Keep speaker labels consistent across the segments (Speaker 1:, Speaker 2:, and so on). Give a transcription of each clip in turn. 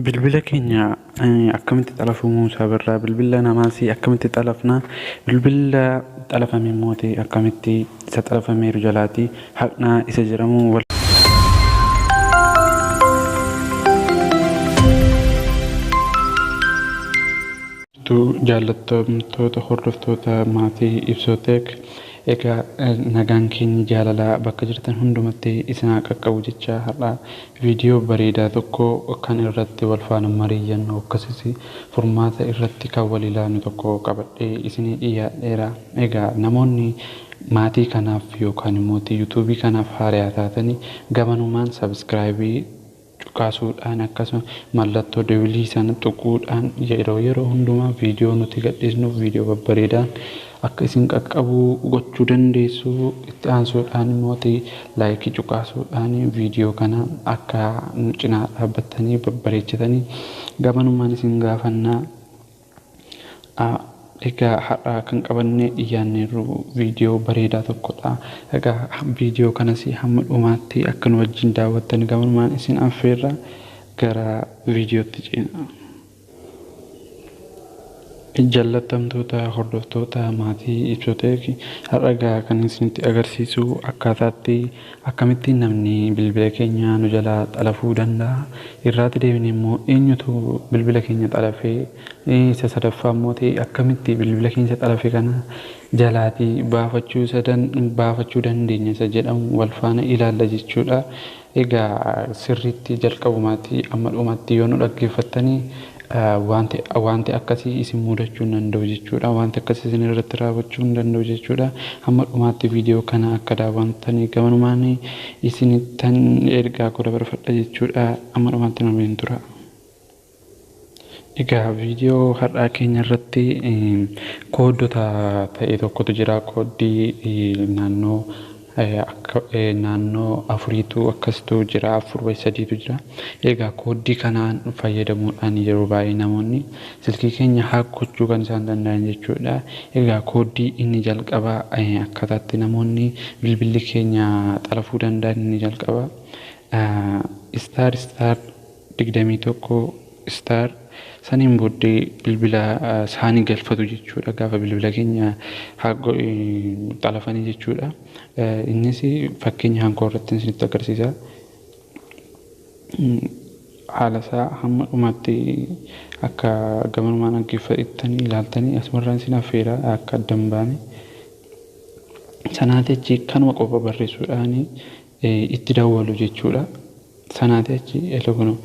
Speaker 1: Bilbila keenya akkamitti xalafuu Muusaa Birraa? Bilbila namaas akkamitti xalafna? Bilbila xalafame immoo akkamitti isa xalafameeru jalaati haqnaa isa jedhamu wal jaallattoota hordoftoota maatii ibsooteek egaa nagaan keenya jaalalaa bakka jirtan hundumatti isin haa qaqqabu jechaa har'a Viidiyoo bareedaa tokko kan irratti wal faana mariiyannu akkasis furmaata irratti kan wal ilaallu tokko qabadhee isinii dhiyaadheera. Egaa namoonni maatii kanaaf yookaan immoo YouTube kanaaf haaraya taatani gamanumaan subscribe cuqaasuudhaan akkasuma mallattoo dewilii sana tuquudhaan yeroo yeroo hundumaa viidiyoo nuti gadhiisnuuf viidiyoo babbareedaan Akka isin qaqqabu gochuu dandeessu. Itti aansuudhaan immoo laayikii cuqaasuudhaan viidiyoo kana akka nu cinaa dhaabbattanii babbareechitanii gamanumaan isin gaafanna. Egaa har'a kan qabannee dhiyaanneerru viidiyoo bareedaa tokkodha. Egaa viidiyoo kanas hamma dhumaatti akka nu wajjin daawwattan gamanumaan isin affeerra gara viidiyootti ceena. Jallattamtoota hordoftoota maatii ibsotee fi har'a egaa kan isinitti agarsiisu akkaataatti akkamitti namni bilbila keenya nu jalaa xalafuu danda'a irraatti deebine immoo eenyutu bilbila keenya xalafee isa sadaffaa immoo ta'e akkamitti bilbila keenya xalafe kana jalaatii baafachuu isa dan- baafachuu dandeenya isa jedhamu wal faana ilaalla jechuudha. Egaa sirriitti jalqabumaatii amma dhumaatti yoo nu dhaggeeffattani waanti waanti akkasii isin mudachuu hin danda'u jechuudha. Waanti akkasii isin irratti raawwachuu hin danda'u jechuudha. Hamma dhumaatti viidiyoo kana akka daawwantani gamanumaan isinittan ergaa koo dabarfadha jechuudha. Amma dhumaatti nu waliin tura. Egaa video har'aa keenya irratti kooddota ta'e tokkotu jira. Kooddii naannoo naannoo afuriitu akkasitu jira. Afur wayi sadiitu jira. Egaa kooddii kanaan fayyadamuudhaan yeroo baay'ee namoonni silkii keenya haak gochuu kan isaan danda'an jechuudha. Egaa kooddii inni jalqabaa akkaataatti namoonni bilbilli keenya xalafuu danda'an inni jalqabaa istaar istaar 21 star saniin booddee bilbila saani galfatu jechuudha gaafa bilbila keenya hago xalafanii jechuudha innis fakkeenya hankoo irratti isinitti agarsiisa haala isaa hamma dhumaatti akka gamanumaan dhaggeeffattanii ilaaltanii asumarraan isin affeera akka addan baane sanaa jechi kanuma qofa barreessuudhaani itti dawwalu jechuudha. Sanaatii achi elo kuno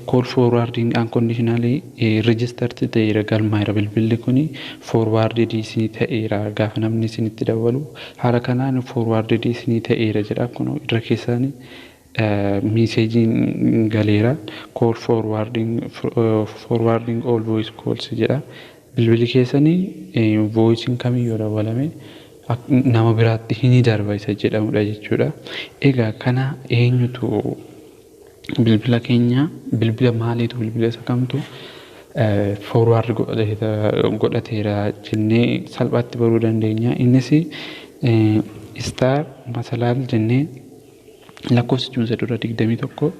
Speaker 1: call forwarding unconditionally registered ta'eera galmaa'eera bilbilli kuni forwarded isinii ta'eera gaafa namni isinitti dawwalu haala kanaan forwarded isinii ta'eera jedha kuno irra keessaani miiseejiin galeera call forwarding forwarding all voice calls jedha Bilbili keessani voicen kami yoo dawwalame nama biraatti hini darba isa jedhamudha jechuudha. Egaa kana eenyutu bilbila keenya bilbila maaliitu bilbila isa kamtu forward godhateera jennee salphaatti baruu dandeenya. Innis star masalaal jennee lakkoofsichuma isa dura 21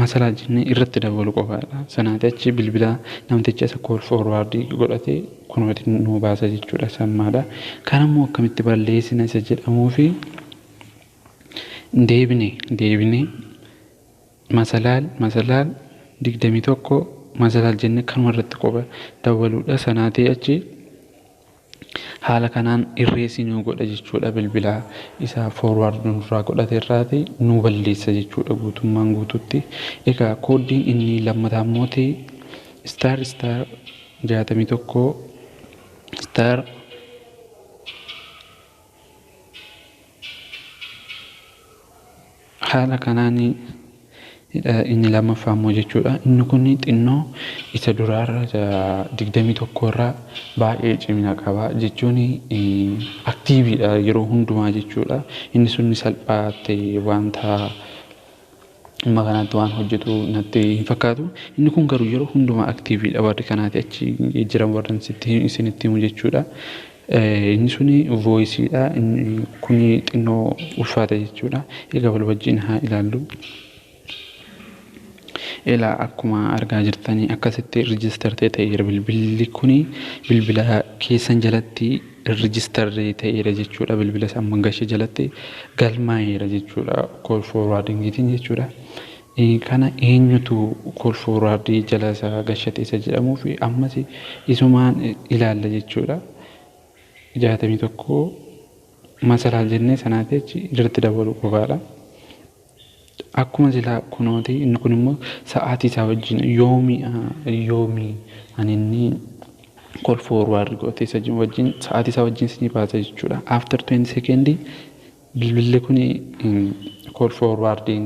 Speaker 1: Masalaa jennee irratti dabalu qofaadha. Sanaati achi bilbila namticha isa call forward godhate kunooti nuu baasa jechuudha sammaadha. Kan ammoo akkamitti balleessina isa jedhamuufi deebine deebine masalaal masalaal digdamii tokko masalaal jennee kanuma irratti qofa dabaluudha. Sanaati achi Haala kanaan irreessi nuu godha jechuudha bilbila isa forward nurraa godhate irraati nuu balleessa jechuudha guutummaan guututti. Egaa kooddiin inni lammataa immooti star star 61 star Haala kanaan inni lammaffaa immoo jechuudha. Inni kun xinnoo isa duraarra digdamii tokkorraa baay'ee cimina qaba jechuun aktiiviidha yeroo hundumaa jechuudha. Inni sun salphaatti wanta amma kanaatti waan hojjetu natti hin fakkaatu. Inni kun garuu yeroo hundumaa aktiiviidha warri kanaati achi jiran warran sitti isinitti himu jechuudha. Inni suni vooyisiidha. Inni kuni xinnoo ulfaata jechuudha. Egaa wal wajjin haa ilaallu. Ilaa akkuma argaa jirtanii akkasitti rijiistar ta'e ta'eera bilbilli kuni bilbila keessan jalatti Registered ta'eera jechuudha. Bilbila isaa Mangasha jalatti galmaa'eera jechuudha. Call forwarding tiin jechuudha. Kana eenyutu call forward jala isaa gashate isa jedhamuu fi ammas isumaan ilaalla jechuudha. 61 masalaal jennee sanaati achi irratti dabaluu qofaadha. Akkuma silaa kunooti inni kun immoo sa'aatii isaa wajjin yoomi yoomi ani inni call forward gootee isa jiru wajjin sa'aatii isaa wajjin isinii baasa jechuudha. After 20 second bilbilli kun call forwarding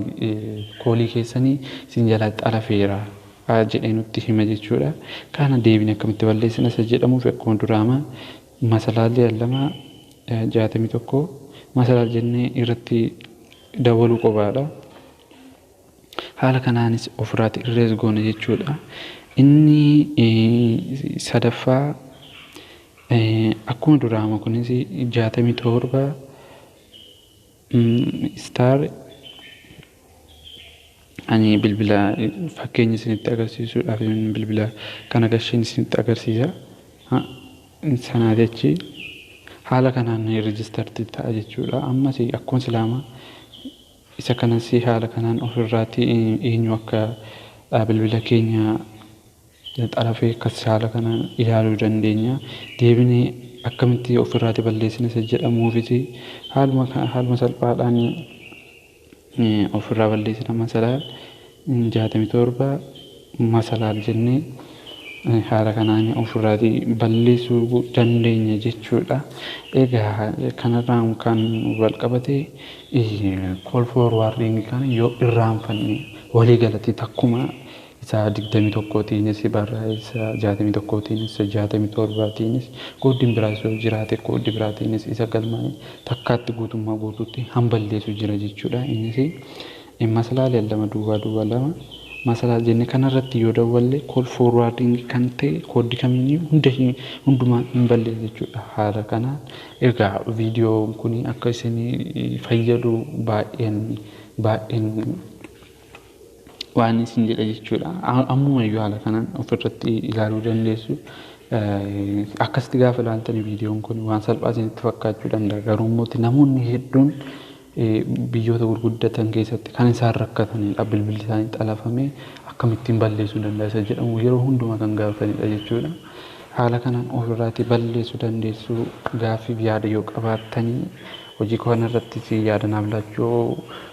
Speaker 1: koolii keessanii isin jalaa xalafeera jedhee nutti hima jechuudha. Kana deebine akkamitti balleessina isa jedhamuuf akkuma duraama masalaalli lama jaatamii tokko masalaal jennee irratti dabaluu qobaadha. Haala kanaanis ofirraati irrees goona jechuudha. Inni sadaffaa akkuma duraama kunis jaatamii torba istaar Ani bilbila fakkeenya isinitti agarsiisuudhaafin bilbila kana gasheen isinitti agarsiisa. Sanaa jechi haala kanaan registered ta'a jechuudha. Ammas akkuma silaama isa kanas haala kanaan ofirraatti eenyu akka bilbila keenya xarafee akkas haala kanaan ilaaluu dandeenya. Deebinee akkamitti ofirraatti balleessina isa jedhamuufis haaluma haaluma salphaadhaan ofirraa balleessina masalaal 67 masalaal jennee haala kanaan ofirraati balleessuu dandeenya jechuudha. Egaa kanarraan kan walqabate call for warning kana yoo irraanfanne walii galatti takkuma isa 21 tiinis, barraa isa 61 tiinis, isa 67 tiinis, qooddiin biraas yoo jiraate qooddi biraa tiinis isa galmaa'e takkaatti guutummaa guutuutti hanballeesu jira jechuudha. Innis maslaal lama duwwaa duwwaa lama maslaal jenne kanarratti yoo dawwalle call forwarding kan ta'e kooddi kamiiniyyu hunda hin hundumaa hin balleessu jechuudha. Haala kanaan egaa viidiyoon kun akka isin fayyadu baay'een baay'een Waanin isin jedha jechuudha. Ammuma iyyuu haala kanaan ofirratti ilaaluu dandeessu. Akkasitti gaafa ilaaltan viidiyoon kun waan salphaa isinitti fakkaachuu danda'a. Garuu immoo namoonni hedduun biyyoota gurguddatan keessatti kan isaan rakkatanidha. Bilbilli isaanii xalafamee akkamittiin balleessuu danda'a isa jedhamu yeroo hundumaa kan gaafatanidha jechuudha. Haala kanaan ofirraatii balleessuu dandeessu gaaffiif yaada yoo qabaattanii Hojii koo kana irrattis yaada naaf laachuu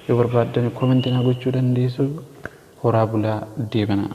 Speaker 1: yoo barbaaddan comment naa gochuu dandeessu. Horaa bulaa deebanaa.